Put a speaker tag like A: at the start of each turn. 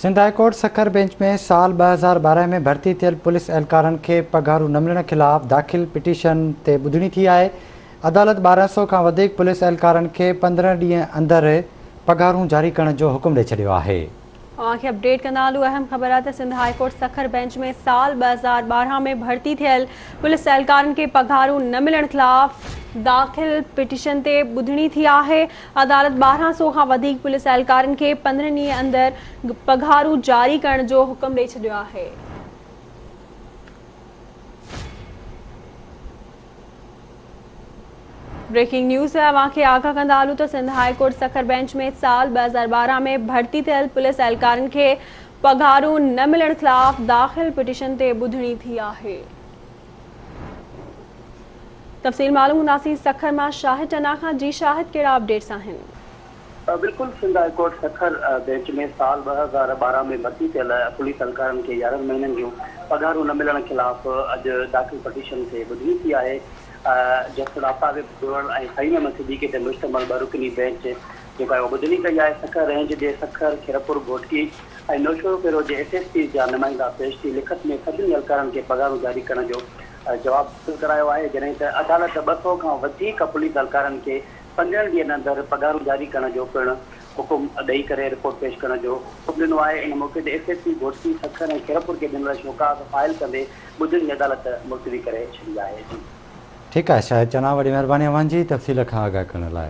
A: Sindh high court Sukkur bench ۾ سال ٻه هزار ٻارهن ۾ ڀرتي ٿيل پوليس اهلڪارن کي پگهارون نه ملڻ خلاف داخل پٽيشن تي ٻڌڻي ٿي آهي، عدالت ٻارهن سؤ کان وڌيڪ پوليس اهلڪارن کي پندرهن ڏينهن اندر پگهارون جاري ڪرڻ جو حڪم ڏئي ڇڏيو آهي. اوهان کي اپڊيٽ
B: ڪندا هلون اهم خبر آهي ته Sindh high court Sukkur bench ۾ سال ٻه هزار ٻارهن ۾ ڀرتي ٿيل پوليس اهلڪارن کي پگهارون نه ملڻ خلاف داخل پٽيشن تي ٻڌڻي ٿي آهي، عدالت ٻارهن سؤ کان وڌيڪ پوليس اهلڪارن کي پندرهن ڏينهن اندر پگهارون جاري ڪرڻ جو حڪم ڏئي ڇڏيو آهي. بريڪنگ نيوز اوهان کي آگاهه ڪندا هلون ته Sindh high court Sukkur bench ۾ سال ٻه هزار ٻارهن ۾ ڀرتي ٿيل پوليس اهلڪارن کي پگهارون نه ملڻ خلاف داخل پٽيشن تي ٻڌڻي ٿي آهي تفصيل معلوم ڪنداسين سکر مان شاهد ٽنا کان، جي شاهد ڪهڙا اپڊيٽس آهن؟ بلڪل Sindh high
C: court Sukkur bench ۾ سال ٻه هزار ٻارهن ۾ ڀرتي ٿيل پوليس اهلڪارن کي يارهن مهينن جون پگهارون نه ملڻ خلاف اڄ داخل پٽيشن کي ٻڌڻي ٿي آهي جسٽس آفتاب ابڙوڙ ۽ فهيم احمد صديقي تي مشتمل ٻه رڪني بئنچ جيڪا اهو ٻڌڻي ڪئي آهي سکر رينج جي سکر، خيرپور گهوٽڪي ۽ نوشهروپيرو جي ايس ايس پيز جا نمائندا پيش ٿي لکت ۾ سڀني اهلڪارن کي پگهارون جاري ڪرڻ جو جواب حاصل ڪرايو آهي جڏهن ته عدالت ٻه سؤ کان وڌيڪ پوليس اهلڪارن کي پندرهن ڏينهن اندر پگهارون جاري ڪرڻ جو پڻ حڪم ڏئي ڪري رپورٽ پيش ڪرڻ جو حڪم ڏنو آهي ان موقعي تي S S P Ghotki Sukkur ۽ Khairpur کي ڏنل شوڪاز فائل ڪندي ٻڌڻي عدالت ملتوي ڪري ڇڏي
A: آهي. ٺيڪ آهي
C: شاهد
A: چنا وڏي مهرباني
C: اوهان جي
A: تفصيل کان آگاهه
C: ڪرڻ
A: لاء.